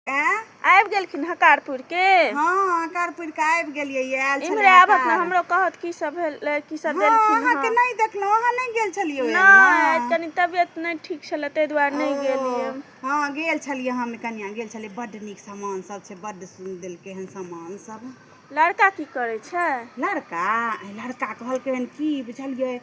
आँय? आबि गेलखिन हकारपुर के हाँ हकारपुर के आबि गेलियै ये, आयल छलै इम्हरे आबत ने हकार। हमरो कहत की सब भेल की सब हाँ, देलखिन अहाँके हँ। नहीं देखलहुँ अहाँ नहीं गेल छलियै ओहिमे? नहि आज कनी तबियत नहि ठीक छलै ताहि दुआरे नहि ओ, गेलियै हाँ गेल छलियै हम कनिया गेल छलियै बड्ड नीक सामान सब छै बड्ड सुन देलकै हन सामान सब लड़का की करै छै लड़का आइ लड़का कहलकै हन की बुझलियै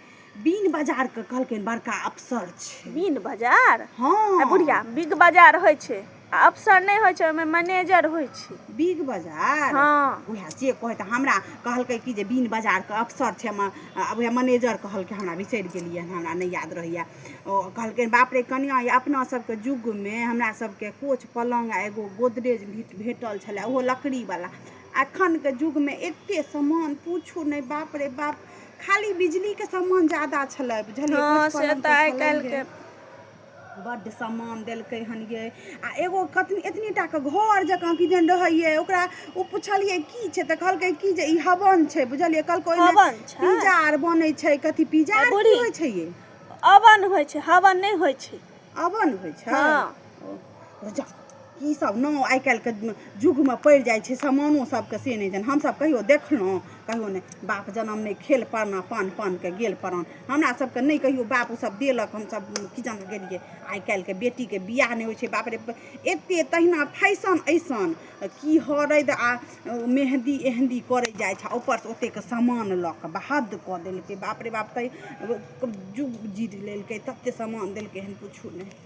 बीन बाजार के कहलकै बड़का अफसर छै बीन बाजार हाँ बुढ़िया बिग बाजार होइ छै आ अफसर नहि होइ छै ओहिमे मैनेजर होइ छै बिग बाजार हाँ उएह से कहै तऽ हमरा कहलकै कि जे बीन बाजार के अफसर छै हम उएह मैनेजर कहलकै हमरा बिसरि गेलियै हमरा नहि याद रहैया ओ कहलकै बाप रे कनिया ये अपना सबके युग मे हमरा सबके कोच पलंग आ एगो गोदरेज भेटल छलै ओहो लकड़ी वाला अखनके युगमे एते सामान पूछू नहि बाप रे बाप खाली बिजलीके सामान ज्यादा छलै बुझलियै हँ से तऽ आइ काल्हिके बड्ड सामान देलकै हन ये आ एगो कतनी एतनी टाके घर जकाँ किदन रहैए ओकरा ओ पुछलियै की छै तऽ कहलकै की जे ई हवन छै बुझलियै कहलकै ओहिमे पिज्जा आर बनै छै कथी पिज्जा आर होइ छै ये अवन होइ छै हवन नहि होइ छै अवन होइ छै हँ की सब नाम आइ काल्हिके युगमे पड़ि जाइ छै समानो सबके से नहि जानि हमसब कहियो देखलहुँ कहियो नहि बाप जनम नहि खेल परना पान पानके गेल प्राण हमरा सबके नहि कहियो बाप सब देलक हमसब किचन गेलियै आइ काल्हिके बेटीके बियाह नहि होइ छै बाप रे एते तहिना फैशन ऐसन की हरैद आ मेहंदी एहंदी करै जाइ छै ऊपर से ओतेक सामान लऽ कऽ बहद कऽ देलकै बाप रे बाप तै जुग जीत लेलकै तते सामान देलकै हन किछु नहि